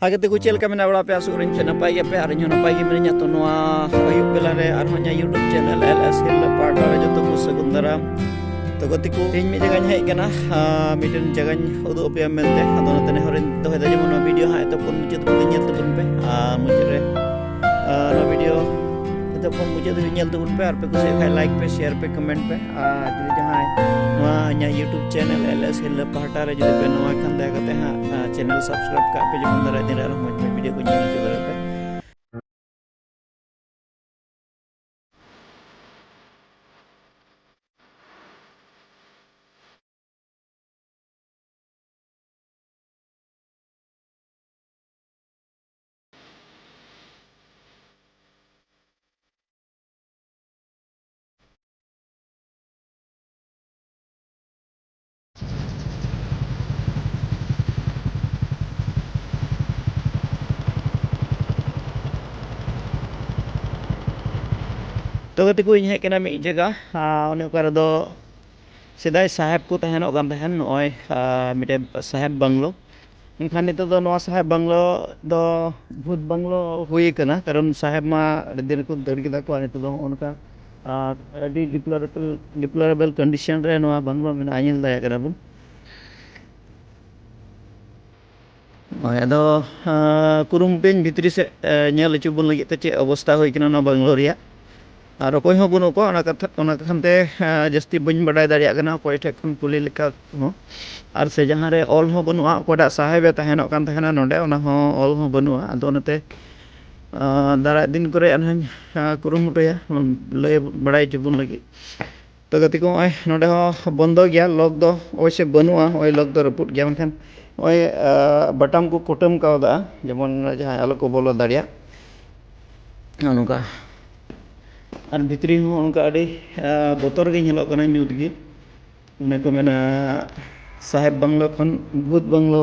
ᱟᱜᱮ ᱛᱮᱠᱚ ᱪᱮᱫ ᱞᱮᱠᱟ ᱢᱮᱱᱟᱜ ᱵᱟᱲᱟ ᱯᱮᱭᱟ ᱥᱩᱨ ᱨᱮᱧ ᱱᱟᱯᱟᱭ ᱜᱮᱭᱟ ᱯᱮ ᱟᱨ ᱤᱧ ᱦᱚᱸ ᱱᱟᱯᱟᱭ ᱜᱮ ᱢᱤᱱᱟᱹᱧᱟ ᱛᱚ ᱱᱚᱣᱟ ᱟᱹᱭᱩᱵ ᱵᱮᱞᱟ ᱨᱮ ᱟᱨ ᱦᱚᱸ ᱤᱧᱟᱹᱜ ᱤᱭᱩᱴᱩᱵᱽ ᱪᱮᱱᱮᱞ ᱮᱞ ᱮᱥ ᱦᱤᱞ ᱯᱟᱦᱴᱟ ᱨᱮ ᱡᱚᱛᱚ ᱠᱚ ᱥᱟᱹᱜᱩᱱ ᱫᱟᱨᱟᱢ ᱛᱚ ᱜᱟᱛᱮ ᱠᱚ ᱤᱧ ᱢᱤᱫ ᱡᱟᱭᱜᱟᱧ ᱦᱮᱡ ᱠᱟᱱᱟ ᱢᱤᱫᱴᱮᱱ ᱡᱟᱭᱜᱟᱧ ᱩᱫᱩᱜ ᱟᱯᱮᱭᱟ ᱢᱮᱱᱛᱮ ᱟᱫᱚ ᱚᱱᱟᱛᱮ ᱱᱮᱦᱚᱨᱤᱧ ᱫᱚᱦᱚᱭᱮᱫᱟ ᱡᱮᱢᱚᱱ ᱱᱚᱣᱟ ᱵᱷᱤᱰᱤᱭᱳ ᱦᱟᱸᱜ ᱮᱛᱚᱠᱷᱚᱱ ᱢᱩᱪᱟᱹᱫ ᱯᱩᱨᱟᱹ ᱧᱮᱞ ᱛᱟᱵᱚᱱ ᱯᱮ ᱟᱨ ᱢᱩᱪᱟᱹᱫ ᱨᱮ ᱱᱚᱣᱟ ᱵᱷᱤᱰᱤᱭᱳ ᱱᱤᱛᱚᱜ ᱠᱷᱚᱱ ᱢᱩᱪᱟᱹᱫ ᱫᱷᱟᱹᱵᱤᱡ ᱧᱮᱞ ᱛᱟᱵᱚᱱ ᱯᱮ ᱟᱨ ᱯᱮ ᱠᱩᱥᱤᱭᱟᱜ ᱠᱷᱟᱱ ᱞᱟᱭᱤᱠ ᱯᱮ ᱥᱮᱭᱟᱨ ᱯᱮ ᱠᱚᱢᱮᱱᱴ ᱯᱮ ᱟᱨ ᱡᱩᱫᱤ ᱡᱟᱦᱟᱸᱭ ᱱᱚᱣᱟ ᱤᱧᱟᱹᱜ ᱤᱭᱩᱴᱩᱵᱽ ᱪᱮᱱᱮᱞ ᱮᱞ ᱮᱥ ᱦᱤᱨᱞᱟᱹ ᱯᱟᱦᱴᱟ ᱨᱮ ᱡᱩᱫᱤ ᱯᱮ ᱱᱚᱣᱟ ᱠᱷᱟᱱ ᱫᱟᱭᱟ ᱠᱟᱛᱮ ᱦᱟᱸᱜ ᱪᱮᱱᱮᱞ ᱥᱟᱵᱥᱠᱨᱟᱭᱤᱵᱽ ᱠᱟᱜ ᱯᱮ ᱡᱮᱢᱚᱱ ᱫᱟᱨᱟᱭ ᱫᱤᱱ ᱨᱮ ᱟᱨᱦᱚᱸ ᱢᱚᱡᱽ ᱢᱚᱡᱽ ᱵᱷᱤᱰᱤᱭᱳ ᱠᱚ ᱧᱮᱞ ᱦᱚᱪᱚ ᱫᱟᱲᱮᱭᱟᱜ ᱯᱮ ᱛᱚ ᱜᱟᱛᱮ ᱠᱚ ᱤᱧ ᱦᱮᱡ ᱠᱟᱱᱟ ᱢᱤᱫ ᱡᱟᱭᱜᱟ ᱚᱱᱮ ᱚᱠᱟ ᱨᱮᱫᱚ ᱥᱮᱫᱟᱭ ᱥᱟᱦᱮᱵᱽ ᱠᱚ ᱛᱟᱦᱮᱱᱚᱜ ᱠᱟᱱ ᱛᱟᱦᱮᱱ ᱱᱚᱜᱼᱚᱭ ᱢᱤᱫᱴᱮᱱ ᱥᱟᱦᱮᱵᱽ ᱵᱟᱝᱞᱳ ᱢᱮᱱᱠᱷᱟᱱ ᱱᱤᱛᱚᱜ ᱫᱚ ᱱᱚᱣᱟ ᱥᱟᱦᱮᱵᱽ ᱵᱟᱝᱞᱳ ᱫᱚ ᱵᱷᱩᱛ ᱵᱟᱝᱞᱳ ᱦᱩᱭ ᱠᱟᱱᱟ ᱠᱟᱨᱚᱱ ᱥᱟᱦᱮᱵᱽ ᱢᱟ ᱟᱹᱰᱤ ᱫᱤᱱ ᱨᱮᱠᱚ ᱫᱟᱹᱲ ᱠᱮᱫᱟ ᱠᱚ ᱟᱨ ᱱᱤᱛᱚᱜ ᱫᱚ ᱱᱚᱜᱼᱚ ᱱᱚᱝᱠᱟ ᱟᱨ ᱟᱹᱰᱤ ᱰᱤᱯᱞᱚᱨᱮᱵᱮᱞ ᱰᱤᱯᱞᱚᱨᱮᱵᱮᱞ ᱠᱚᱱᱰᱤᱥᱚᱱ ᱨᱮ ᱱᱚᱣᱟ ᱵᱟᱝᱞᱳ ᱢᱮᱱᱟᱜᱼᱟ ᱧᱮᱞ ᱫᱟᱲᱮᱭᱟᱜ ᱠᱟᱱᱟ ᱵᱚᱱ ᱦᱳᱭ ᱟᱫᱚ ᱠᱩᱨᱩᱢᱩᱴᱩᱭᱟᱹᱧ ᱵᱷᱤᱛᱨᱤ ᱥᱮᱫ ᱧᱮᱞ ᱦᱚᱪᱚ ᱵᱚᱱ ᱞᱟᱹᱜᱤᱫ ᱛᱮ ᱪᱮᱫ ᱚᱵᱚᱥᱛᱷᱟ ᱦᱩᱭ ᱠᱟᱱᱟ ᱱᱚᱣᱟ ᱵᱟᱝᱞᱳ ᱨᱮᱭᱟᱜ ᱟᱨ ᱚᱠᱚᱭ ᱦᱚᱸ ᱵᱟᱹᱱᱩᱜ ᱠᱚᱣᱟ ᱚᱱᱟ ᱠᱟᱛᱷᱟ ᱚᱱᱟ ᱠᱟᱠᱷᱟᱱ ᱛᱮ ᱡᱟᱹᱥᱛᱤ ᱵᱟᱹᱧ ᱵᱟᱰᱟᱭ ᱫᱟᱲᱮᱭᱟᱜ ᱠᱟᱱᱟ ᱚᱠᱚᱭ ᱴᱷᱮᱱ ᱠᱷᱚᱱ ᱠᱩᱞᱤ ᱞᱮᱠᱟ ᱦᱚᱸ ᱟᱨ ᱥᱮ ᱡᱟᱦᱟᱸ ᱨᱮ ᱚᱞ ᱦᱚᱸ ᱵᱟᱹᱱᱩᱜᱼᱟ ᱚᱠᱚᱭᱴᱟᱜ ᱥᱟᱦᱮᱵᱽ ᱮ ᱛᱟᱦᱮᱱᱚᱜ ᱠᱟᱱ ᱛᱟᱦᱮᱱᱟ ᱱᱚᱰᱮ ᱚᱱᱟ ᱦᱚᱸ ᱚᱞ ᱦᱚᱸ ᱵᱟᱹᱱᱩᱜᱼᱟ ᱟᱫᱚ ᱚᱱᱟᱛᱮ ᱫᱟᱨᱟᱭ ᱫᱤᱱ ᱠᱚᱨᱮᱜ ᱦᱟᱸᱜ ᱠᱩᱨᱩᱢᱩᱴᱩᱭᱟ ᱞᱟᱹᱭ ᱵᱟᱲᱟᱭ ᱦᱚᱪᱚ ᱵᱚᱱ ᱞᱟᱹᱜᱤᱫ ᱛᱚ ᱜᱟᱛᱮ ᱠᱚ ᱱᱚᱜᱼᱚᱭ ᱱᱚᱰᱮ ᱦᱚᱸ ᱵᱚᱱᱫᱚ ᱜᱮᱭᱟ ᱞᱚᱠ ᱫᱚ ᱚᱵᱚᱥᱥᱳᱭ ᱵᱟᱹᱱᱩᱜᱼᱟ ᱱᱚᱜᱼᱚᱭ ᱞᱚᱠ ᱫᱚ ᱨᱟᱹᱯᱩᱫ ᱜᱮᱭᱟ ᱢᱮᱱᱠᱷᱟᱱ ᱱᱚᱜᱼᱚᱭ ᱵᱟᱴᱟᱢ ᱠᱚ ᱠᱩᱴᱟᱹᱢ ᱠᱟᱣᱫᱟ ᱡᱮᱢᱚᱱ ᱡᱟᱦᱟᱸᱭ ᱟᱞᱚ ᱠᱚ ᱵᱚᱞᱚ ᱫᱟᱲᱮᱭᱟᱜ ᱱᱚᱜᱼᱚ ᱱᱚᱝᱠᱟ ᱟᱨ ᱵᱷᱤᱛᱨᱤ ᱦᱚᱸ ᱚᱱᱠᱟ ᱟᱹᱰᱤ ᱵᱚᱛᱚᱨ ᱜᱮ ᱧᱮᱞᱚᱜ ᱠᱟᱱᱟ ᱧᱩᱛ ᱜᱮ ᱚᱱᱮ ᱠᱚ ᱢᱮᱱᱟ ᱥᱟᱦᱮᱵᱽ ᱵᱟᱝᱞᱳ ᱠᱷᱚᱱ ᱵᱷᱩᱛ ᱵᱟᱝᱞᱳ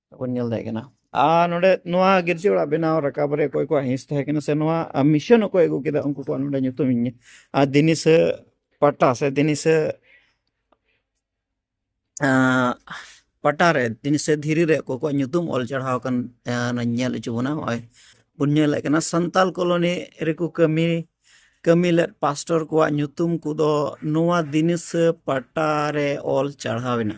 ᱵᱚᱱ ᱧᱮᱞ ᱫᱟᱲᱮᱭᱟᱜ ᱠᱟᱱᱟ ᱟᱨ ᱱᱚᱰᱮ ᱱᱚᱣᱟ ᱜᱤᱨᱡᱟᱹ ᱚᱲᱟᱜ ᱵᱮᱱᱟᱣ ᱨᱟᱠᱟᱵ ᱨᱮ ᱚᱠᱚᱭ ᱠᱚᱣᱟᱜ ᱦᱤᱸᱥ ᱛᱟᱦᱮᱸ ᱠᱟᱱᱟ ᱥᱮ ᱱᱚᱣᱟ ᱢᱤᱥᱚᱱ ᱚᱠᱚᱭ ᱟᱹᱜᱩ ᱠᱮᱫᱟ ᱩᱱᱠᱩ ᱠᱚᱣᱟᱜ ᱱᱚᱰᱮ ᱧᱩᱛᱩᱢ ᱤᱧ ᱟᱨ ᱫᱤᱱᱤᱥᱟᱹ ᱯᱟᱴᱟ ᱥᱮ ᱫᱤᱱᱤᱥᱟᱹ ᱯᱟᱴᱟ ᱨᱮ ᱫᱤᱱᱤᱥᱟᱹ ᱫᱷᱤᱨᱤ ᱨᱮ ᱚᱠᱚᱭ ᱠᱚᱣᱟᱜ ᱧᱩᱛᱩᱢ ᱚᱞ ᱪᱟᱲᱦᱟᱣ ᱟᱠᱟᱱ ᱧᱮᱞ ᱦᱚᱪᱚ ᱵᱚᱱᱟ ᱱᱚᱜᱼᱚᱭ ᱵᱚᱱ ᱧᱮᱞᱮᱫ ᱠᱟᱱᱟ ᱥᱟᱱᱛᱟᱞ ᱠᱚᱞᱚᱱᱤ ᱨᱮᱠᱚ ᱠᱟᱹᱢᱤ ᱠᱟᱹᱢᱤ ᱞᱮᱫ ᱯᱟᱥᱴᱚᱨ ᱠᱚᱣᱟᱜ ᱧᱩᱛᱩᱢ ᱠᱚᱫᱚ ᱱᱚᱣᱟ ᱫᱤᱱᱤᱥᱟᱹ ᱯᱟᱴᱟ ᱨᱮ ᱚᱞ ᱪᱟᱲᱦᱟᱣ ᱮᱱᱟ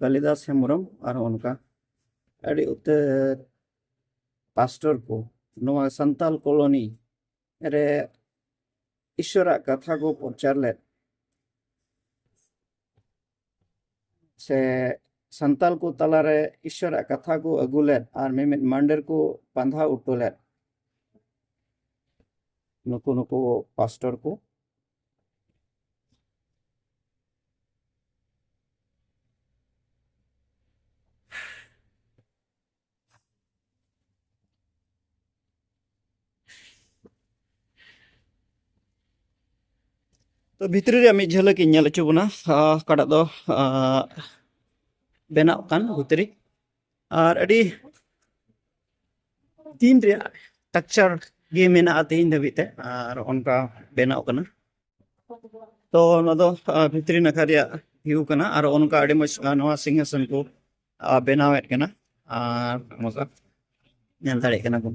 ᱠᱟᱞᱤᱫᱟᱥ ᱦᱮᱢᱵᱨᱚᱢ ᱟᱨᱦᱚᱸ ᱚᱱᱠᱟ ᱟᱹᱰᱤ ᱩᱛᱟᱹᱨ ᱯᱟᱥᱴᱚᱨ ᱠᱚ ᱱᱚᱣᱟ ᱥᱟᱱᱛᱟᱞ ᱠᱚᱞᱚᱱᱤ ᱨᱮ ᱤᱥᱚᱨᱟᱜ ᱠᱟᱛᱷᱟ ᱠᱚ ᱯᱨᱚᱪᱟᱨ ᱞᱮᱫ ᱥᱮ ᱥᱟᱱᱛᱟᱞ ᱠᱚ ᱛᱟᱞᱟᱨᱮ ᱤᱥᱚᱨᱟᱜ ᱠᱟᱛᱷᱟ ᱠᱚ ᱟᱹᱜᱩ ᱞᱮᱫ ᱟᱨ ᱢᱤᱢᱤᱫ ᱢᱟᱱᱰᱮᱨ ᱠᱚ ᱯᱟᱸᱫᱷᱟ ᱩᱴᱩ ᱞᱮᱫ ᱱᱩᱠᱩ ᱱᱩᱠᱩ ᱯᱟᱥᱴᱚᱨ ᱠᱚ ᱛᱚ ᱵᱷᱤᱛᱨᱤ ᱨᱮᱭᱟᱜ ᱢᱤᱫ ᱡᱷᱟᱹᱞᱟᱹᱠ ᱤᱧ ᱧᱮᱞ ᱦᱚᱪᱚ ᱵᱚᱱᱟ ᱚᱠᱟᱴᱟᱜ ᱫᱚ ᱵᱮᱱᱟᱜ ᱠᱟᱱ ᱵᱷᱤᱛᱨᱤ ᱟᱨ ᱟᱹᱰᱤ ᱛᱤᱱ ᱨᱮᱭᱟᱜ ᱴᱟᱠᱪᱟᱨ ᱜᱮ ᱢᱮᱱᱟᱜᱼᱟ ᱛᱮᱦᱮᱧ ᱫᱷᱟᱹᱵᱤᱡ ᱛᱮ ᱟᱨ ᱚᱱᱠᱟ ᱵᱮᱱᱟᱣ ᱠᱟᱱᱟ ᱛᱚ ᱱᱚᱣᱟ ᱫᱚ ᱵᱷᱤᱛᱨᱤ ᱱᱟᱠᱷᱟ ᱨᱮᱭᱟᱜ ᱵᱷᱤᱭᱩ ᱠᱟᱱᱟ ᱟᱨ ᱚᱱᱠᱟ ᱟᱹᱰᱤ ᱢᱚᱡᱽ ᱱᱚᱣᱟ ᱥᱤᱝᱦᱟᱥᱚᱱ ᱠᱚ ᱵᱮᱱᱟᱣᱮᱫ ᱠᱟᱱᱟ ᱟᱨ ᱱᱚᱝᱠᱟ ᱧᱮᱞ ᱫᱟᱲᱮᱭᱟᱜ ᱠᱟᱱᱟ ᱵᱚᱱ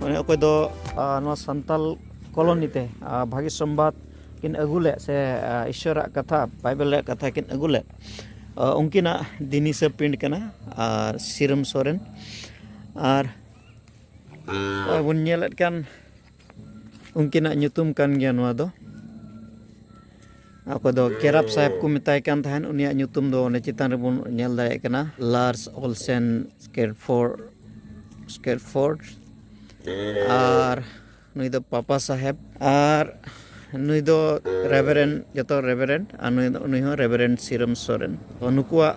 ᱢᱟᱱᱮ ᱚᱠᱚᱭ ᱫᱚ ᱱᱚᱣᱟ ᱥᱟᱱᱛᱟᱞ ᱠᱚᱞᱚᱱᱤ ᱛᱮ ᱵᱷᱟᱹᱜᱤ ᱥᱚᱢᱵᱟᱫ ᱠᱤᱱ ᱟᱹᱜᱩ ᱞᱮᱫ ᱥᱮ ᱤᱥᱚᱨᱟᱜ ᱠᱟᱛᱷᱟ ᱵᱟᱭᱵᱮᱞ ᱨᱮᱭᱟᱜ ᱠᱟᱛᱷᱟ ᱠᱤᱱ ᱟᱹᱜᱩ ᱞᱮᱫ ᱩᱱᱠᱤᱱᱟᱜ ᱫᱤᱱᱤᱥᱟᱹ ᱯᱤᱸᱰ ᱠᱟᱱᱟ ᱟᱨ ᱥᱤᱨᱚᱢ ᱥᱚᱨᱮᱱ ᱟᱨ ᱵᱚᱱ ᱧᱮᱞᱮᱫ ᱠᱟᱱ ᱩᱱᱠᱤᱱᱟᱜ ᱧᱩᱛᱩᱢ ᱠᱟᱱ ᱜᱮᱭᱟ ᱱᱚᱣᱟ ᱫᱚ ᱚᱠᱚᱭ ᱫᱚ ᱠᱮᱨᱟᱯ ᱥᱟᱦᱮᱵᱽ ᱠᱚ ᱢᱮᱛᱟᱭ ᱠᱟᱱ ᱛᱟᱦᱮᱸᱫ ᱩᱱᱤᱭᱟᱜ ᱧᱩᱛᱩᱢ ᱫᱚ ᱚᱱᱮ ᱪᱮᱛᱟᱱ ᱨᱮᱵᱚᱱ ᱧᱮᱞ ᱫᱟᱲᱮᱭᱟᱜ ᱠᱟᱱᱟ ᱞᱟᱨᱥ ᱚᱞᱥᱮᱱ ᱥᱠᱮᱨᱯᱷᱳᱨ ᱥᱠᱮᱨᱯᱷᱳᱨᱰ ᱟᱨ ᱱᱩᱭ ᱫᱚ ᱯᱟᱯᱟ ᱥᱟᱦᱮᱵᱽ ᱟᱨ ᱱᱩᱭ ᱫᱚ ᱨᱮᱵᱷᱮᱨᱮᱱ ᱡᱚᱛᱚ ᱨᱮᱵᱷᱮᱨᱮᱱ ᱟᱨ ᱱᱩᱭ ᱫᱚ ᱩᱱᱤ ᱦᱚᱸ ᱨᱮᱵᱷᱮᱨᱮᱱ ᱥᱤᱨᱚᱢ ᱥᱚᱨᱮᱱ ᱛᱚ ᱱᱩᱠᱩᱣᱟᱜ